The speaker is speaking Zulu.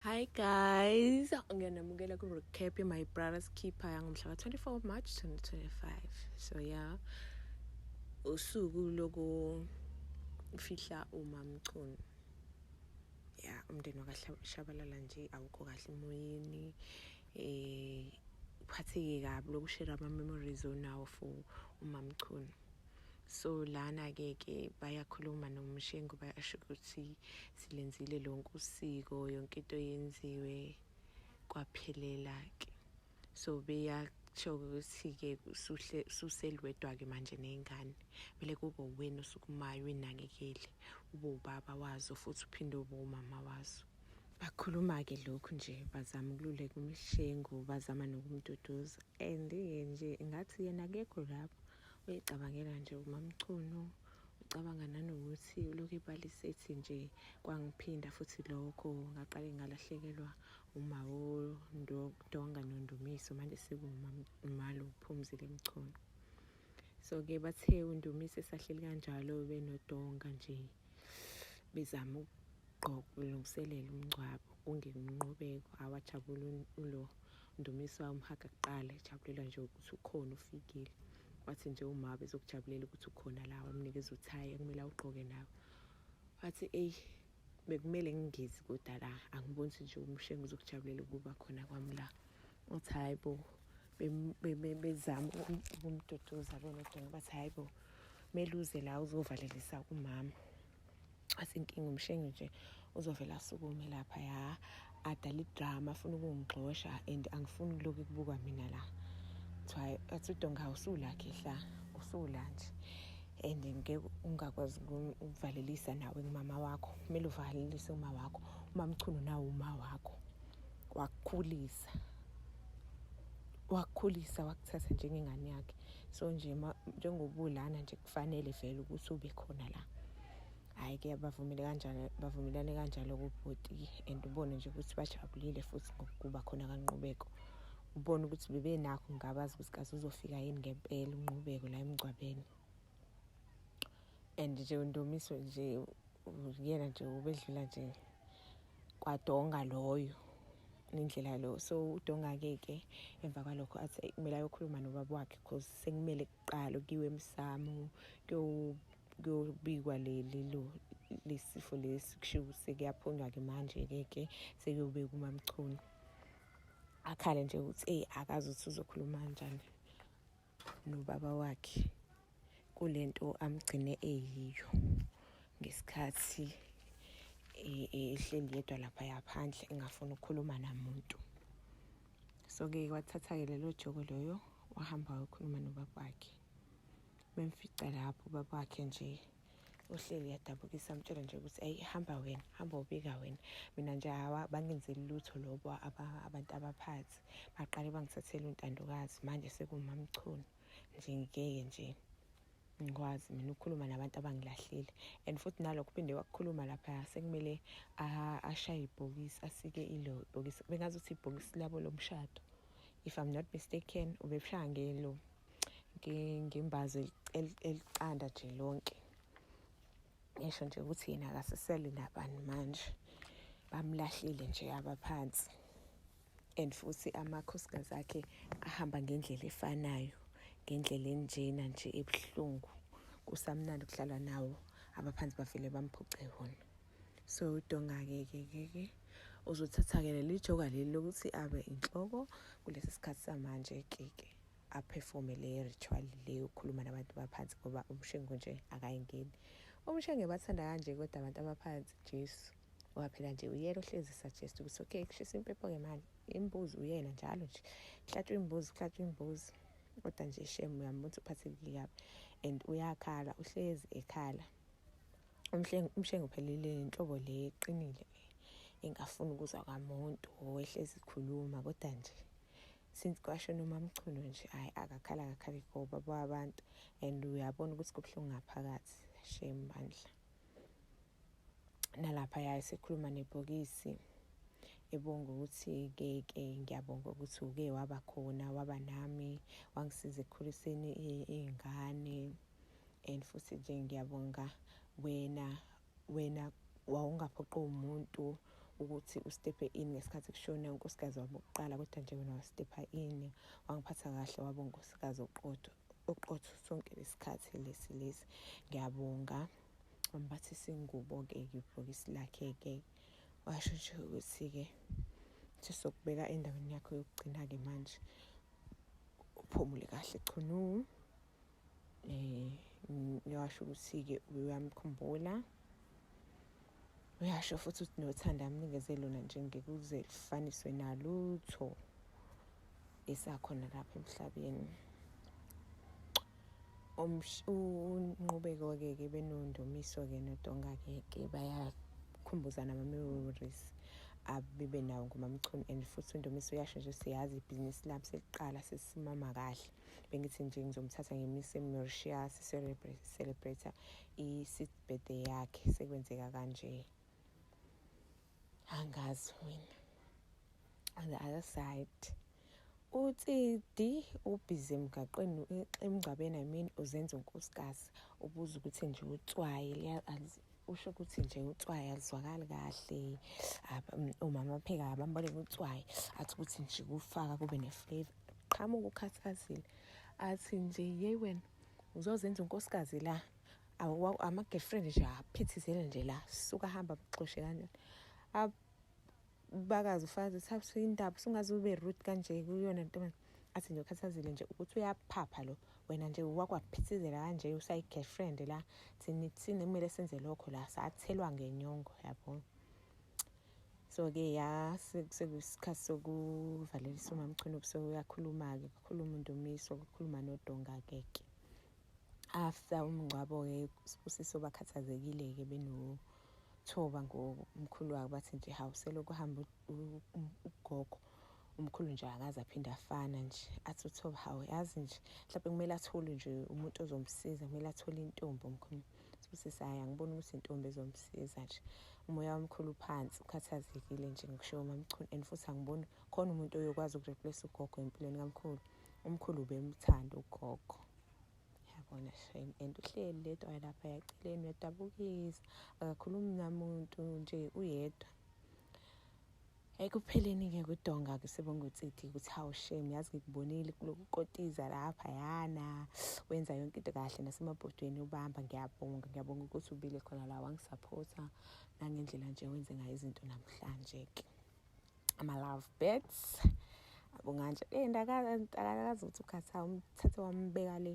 Hi guys, ngiyanamukela ku recap ye my brother's keeper yangomhla ka 24 March 2025. So yeah, usuku loku fihla uma mchunu. Yeah, umndeni wakashabalala nje awukho kahle emoyeni. Eh uphatheke kabi lokushare ama memories onawo for umamchunu. so lana ke ke bayakhuluma nomshengu bayasho ukuthi silenzile lonke usiko yonke into yenziwe kwaphelela ke so beya kusho ukuthi-ke suselwedwa-ke manje ney'ngane kumele kube uwena osukumayo uyinakekele ube ubaba wazo futhi uphinde ube umama wazo bakhuluma-ke lokhu nje bazama ukululeka umshengu bazama nokumduduza and-ke nje ngathi yena akekho lapho uyicabangela nje umamchunu ucabanga nanokuthi ulokhu ibali sethi nje kwangiphinda futhi lokho ngaqale ngalahlekelwa umawo donga nondumiso manje sekuwumalo uphumzile mchunu so-ke bathe undumiso esahleli kanjalo benodonga nje bezama ukugqokulungiselela umngcwabo ungenqubeko awajabula ulo Ndumiswa umhaga kuqala ejabulelwa nje ukuthi ukhona ufikile wathi nje uma bezokujabulela ukuthi ukhona la wamnikeza uthayi ekumele awugqoke nawe wathi eyi bekumele ngingezi kodwa la angiboni ukuthi nje umshengu uzokujabulela ukuba khona kwami la wathi hayi bo bezama ukumduduza lona udonga bathi hayi bo kumele uze la uzovalelisa kumama asinkinga umshengi nje uzovela asukume lapha ya adala idrama afuna ukungigxosha and angifuni kulokhu kubuka mina la kuthiwa athi udonga usulakhe hla usula nje and ngeke ungakwazi ukuvalelisa nawe ngumama wakho kumele uvalelise uma wakho umamchunu nawo uma wakho wakukhulisa wakukhulisa wakuthatha njengengane yakhe so nje njengobulana nje kufanele vele ukuthi ube khona la hhayi ke bavumile kanjalo bavumelane kanjalo kubhuti and ubone nje ukuthi bajabulile futhi ngokuba khona kanqubeko ubone ukuthi bebenakho ngabazi ukuthi kaze uzofika yini ngempela unqubeko la emngcwabeni and nje undomiso nje yena nje ubedlula nje kwadonga loyo nendlela lo so udonga-ke ke emva kwalokho athi kumele ayokhuluma nobaba wakhe because sekumele kuqala kuyiwe emsamo kuyobikwa leli lo lesifo lesi kushiwo ukuthi sekuyaphunywa-ke manje-ke ke sekuyobeka umamchunu akhale nje ukuthi eyi akazi ukuthi uzokhuluma kanjani nobaba wakhe kule nto amgcine eyiyo ngesikhathi e, e, ehleli yedwa lapha yaphandle engafuni ukukhuluma namuntu so-ke wathatha-ke lelo joko loyo wahamba wayokhuluma nobaba wakhe bemfica lapho ubaba wakhe nje uhleli yadabukisa amtshela nje ukuthi ayi hamba wena hamba ubika wena mina nje hawa bangenzeli lutho lobo abantu abaphathi baqale bangithathele untandokazi manje sekumamchunu nje ngeke nje ngikwazi mina ukukhuluma nabantu abangilahlile and futhi nalokho uphinde wakukhuluma lapha sekumele ashaye ibhokisi asike ilo ibhokisi bengazi ukuthi ibhokisi labo lomshado if i'm not mistaken ubebushaya ngelo ngembazo eliqanda nje lonke ngisho nje ukuthi yena akasesele nabani manje bamlahlile nje abaphansi and futhi amakhosikazi akhe ahamba ngendlela efanayo ngendlela enjena nje ebuhlungu kusamnandi kudlalwa nawo abaphansi bavele bamphuce wona so udonga-ke ke ke ke uzothatha-ke leli joka leli lokuthi abe inhloko kulesi sikhathi samanje ke ke aphefome le ritual le yokukhuluma nabantu baphansi ngoba umshengu nje akayingeni umshenge bathanda kanje kodwa abantu abaphansi jesu ngoba phela nje uyena ohlezi suggest ukuthi okay kushisa impepho ke manje imbuzi uyena njalo nje kuhlatshwa imbuzi kuhlatshwa imbuzi kodwa nje shem uyambona ukuthi uphathekile kabi and uyakhala uhlezi ekhala umshengo phelile inhlobo le eqinile le engafuni ukuzwa kwamuntu owehlezi ikhuluma kodwa nje since kwasho noma mchuno nje hayi akakhala akakhali ngoba babantu and uyabona ukuthi kubuhlungu ngaphakathi shem bandla nalapha ya esekhuluma nebhokisi ebonga ukuthi ke ke ngiyabonga ukuthi uke waba khona waba nami wangisiza ekukhuliseni iy'ngane and futhi nje ngiyabonga wena wena wawungaphoqi umuntu ukuthi ustephe in ngesikhathi kushona unkosikazi wabo kuqala kodwa nje wena wastepha in wangiphatha kahle wabo unkosikazi oqotho oqotho sonke lesikhathi lesi lesi ngiyabonga ambathi singubo-ke ibhokisi lakhe-ke washo nje ukuthi-ke sesokubeka endaweni yakho yokugcina-ke manje uphumule kahle chunu um eh, ngiwasho ukuthi-ke uyamkhumbula um uyasho futhi ukuthi nothanda amnikeze lona nje ngekuze lifaniswe nalutho esakhona lapha emhlabeni unqubeko-ke ke benondumiso-ke nodonga-ke ke bayakhumbuzana ama-memories abibe nawo ngomamchunu and futhi undumiso uyasho nje siyazi ibhizinisi lami seliqala sesimama kahle bengithi nje ngizomthatha ngimyise emauritius celebrator i-sixth birthday yakhe sekwenzeka kanje angazi mina on the other side utsidi ubhizi emgaqweni emngcwabeni i mean uzenza unkosikazi ubuza ukuthi nje utswayi usho ukuthi nje utswayi alizwakali kahle umama apheka abambole utswayi athi ukuthi nje kufaka kube ne-flavor qhamuka ukhathazile athi nje yeyi wena uzozenza unkosikazi la ama-girlfriend nje aphithizele nje la suka hamba mxoshe kanjani abakazi ufazi thatha indaba sungaze ube root kanje kuyona ntombazane athi nje ukhathazile nje ukuthi uyaphapha lo wena nje wakwaphithizela kanje usayi-girlfriend la thina kumele senze lokho la sathelwa ngenyongo yabona so-ke ya sekuyisikhathi sokuvalelisa umamchunu so uyakhuluma-ke kukhuluma undumiso kukhuluma nodonga-ke ke after umngcwabo-ke sibusiso bakhathazekile-ke benothoba ngomkhulu wabo bathi nje hawu selokuhamba ugogo umkhulu nje akaze aphinde afana nje athi uthoba hawu yazi nje mhlawumbe kumele athole nje umuntu ozomsiza kumele athole intombi omkhulu sibusisa hayi angiboni ukuthi intombi ezomsiza nje umoya wamkhulu phansi ukhathazekile nje ngikushiwo mamchunu and futhi angiboni khona umuntu oyokwazi ukureplace ugogo empilweni kamkhulu umkhulu ubemthanda ugogo yabona shame and uhleli ledwa lapha yaceleni uyadabukisa akakhulumi namuntu nje uyedwa ekupheleni-ke kudonga kusebongutsiti ukuthi hawu shame yazi ngikubonile kulokukotiza lapha yana wenza yonke into kahle nasemabhodweni ubamba ngiyabonga ngiyabonga ukuthi ubile khona la wangisaphotha nangendlela nje wenze ngayo izinto namhlanje-ke ama-love bets abonganje le ntakakazi ukuthi ukhatha umthathe wambeka le